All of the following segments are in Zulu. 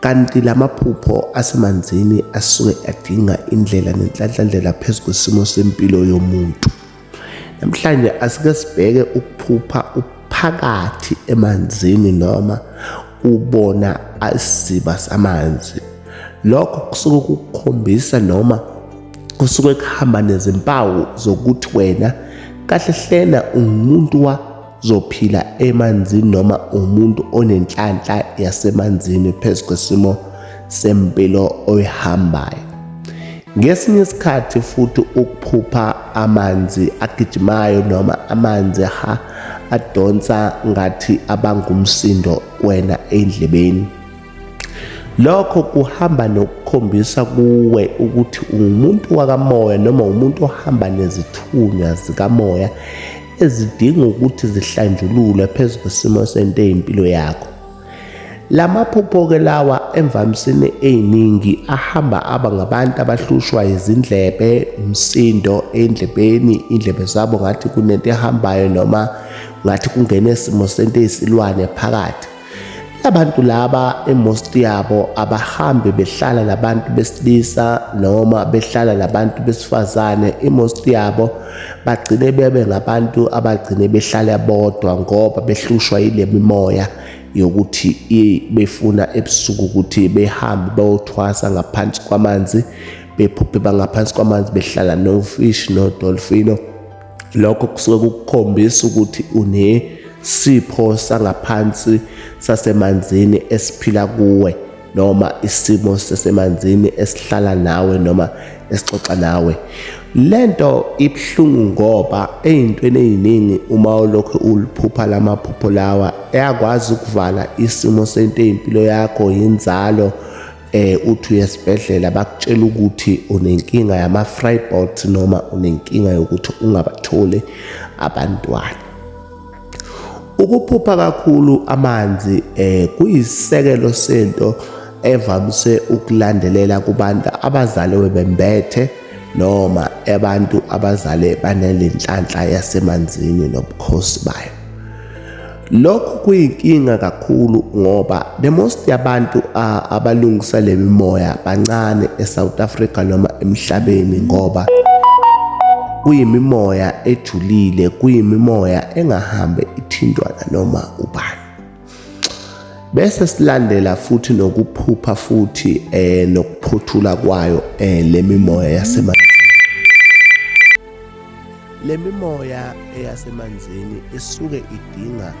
Kanti lamaphupho asemanzini asuke adinga indlela nenhlanhlandlela phezu kwesimo sempilo yomuntu. Namhlanje asike sibheke ukuphupha uphakathi emanzini noma ubona isiziba samanzi. Lokho kusuke kukukhombisa noma kusuke kuhamba nezimpawu zokuthi wena kahle hlena ungumuntu wa zophila emanzini noma umuntu onenhlanhla yasemanzini phezu kwesimo sempilo oyihambayo ngesinye isikhathi futhi ukuphupha amanzi agijimayo noma amanzi ha adonsa ngathi abangumsindo wena endlebeni Lokho kuhamba nokukhombisa kuwe ukuthi ungumuntu wakamoya noma umuntu ohamba nezithunywa zikamoya ezidinga ukuthi zihlanjululwe phezu kwesimo sento eyimpilo yakho. La maphupho-ke lawa emvamisini eyiningi ahamba aba ngabantu abahlushwa izindlebe, umsindo endlebeni, indlebe zabo ngathi kunento ehambayo noma ngathi kungene isimo sento eyisilwane phakathi. Abantu laba emost yabo abahambe behlala nabantu besilisa noma behlala nabantu besifazane emost yabo bagcine bebe ngabantu abagcine behlala bodwa ngoba behlushwa yile mimoya yokuthi befuna ebusuku ukuthi behambe bayothwasa ngaphansi kwamanzi bephuphe bangaphansi kwamanzi behlala nofish nodolfino lokho kusuke kukukhombisa ukuthi unesipho sangaphansi sasemanzini esiphila kuwe noma isimo sasemanzini esihlala nawe noma esixoxa nawe lento ibhlungu ngoba ezintweni eziningi uma ulokhu uliphupha lamaphupho lawa eyakwazi ukuvala isimo sento ezimpilo yakho inzalo eh uthi uyesibhedlela bakutshela ukuthi unenkinga yama frybot noma unenkinga yokuthi ungabatholi abantwana ukuphupha kakhulu amanzi eh kuyisekelo sento evamise ukulandelela kubantu abazaliwe bembethe noma abantu abazale banelenhlanhla yasemanzini nobukhosi bayo Lokhu kuyinkinga kakhulu ngoba the most yabantu abalungisa le mimoya bancane eSouth Africa noma emhlabeni ngoba kuyimimoya ejulile kuyimimoya engahambe ithintwana noma ubani bese silandela futhi nokuphupha futhi eh nokuphothula kwayo eh lemimoya yasemanzini Le mimoya eyasemanzini isuke idinga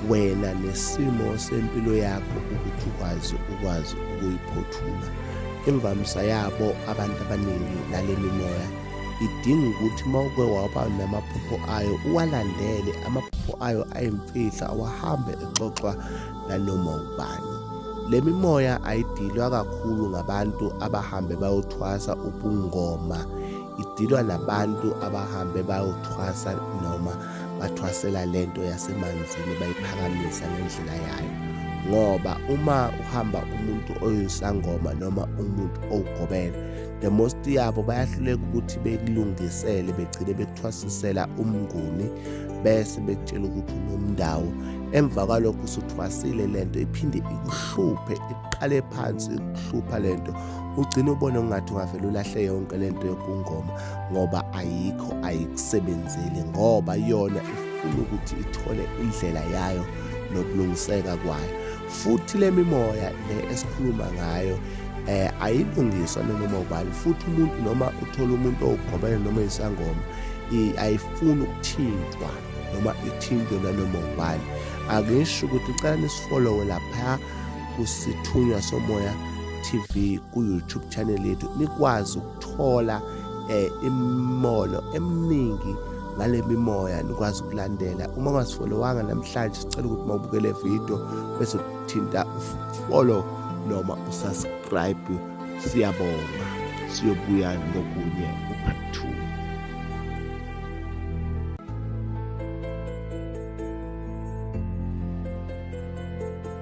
wena nesimo sempilo yakho ukuthi ukwazi ukwazi ukuyiphothula imvamisa yabo abantu abaningi nale mimoya idinga ukuthi uma uke waba namaphupho ayo uwalandele amaphupho ayo ayimfihla awahambe exoxwa nanoma ubani le mimoya ayidilwa kakhulu ngabantu abahambe bayothwasa ubungoma idilwa nabantu abahambe bayothwasa noma bathwasela lento yasemanzini bayiphakamisa ngendlela yayo ngoba uma uhamba umuntu oyisangoma noma umuntu owugobela the most yabo bayahluleka ukuthi bekulungisele begcine bekuthwasisela umnguni bese bekutshela ukuthi unomndawo emva kwalokho usuthwasile lento iphinde ikuhluphe iqale phansi ikuhlupha lento ugcina ubone ungathi ungavele ulahle yonke le nto yobungoma ngoba ayikho ayikusebenzeli ngoba yona ifuna ukuthi ithole indlela yayo nokulungiseka kwayo futhi le mimoya le esikhuluma ngayo eh ayilungiswa noma ubani futhi umuntu noma uthola umuntu owugobele noma isangoma ayifuni ukuthintwa noma ithintwe nanoma ubani akusho ukuthi ucela nisifollowe lapha kusithunywa somoya TV ku YouTube channel yethu nikwazi ukuthola eh imimono eminingi ngale mimoya nikwazi ukulandela uma ungazifolowanga namhlanje sicela ukuthi mawubukele video bese uthinta follow noma usubscribe siyabonga siyobuya nokunye upart 2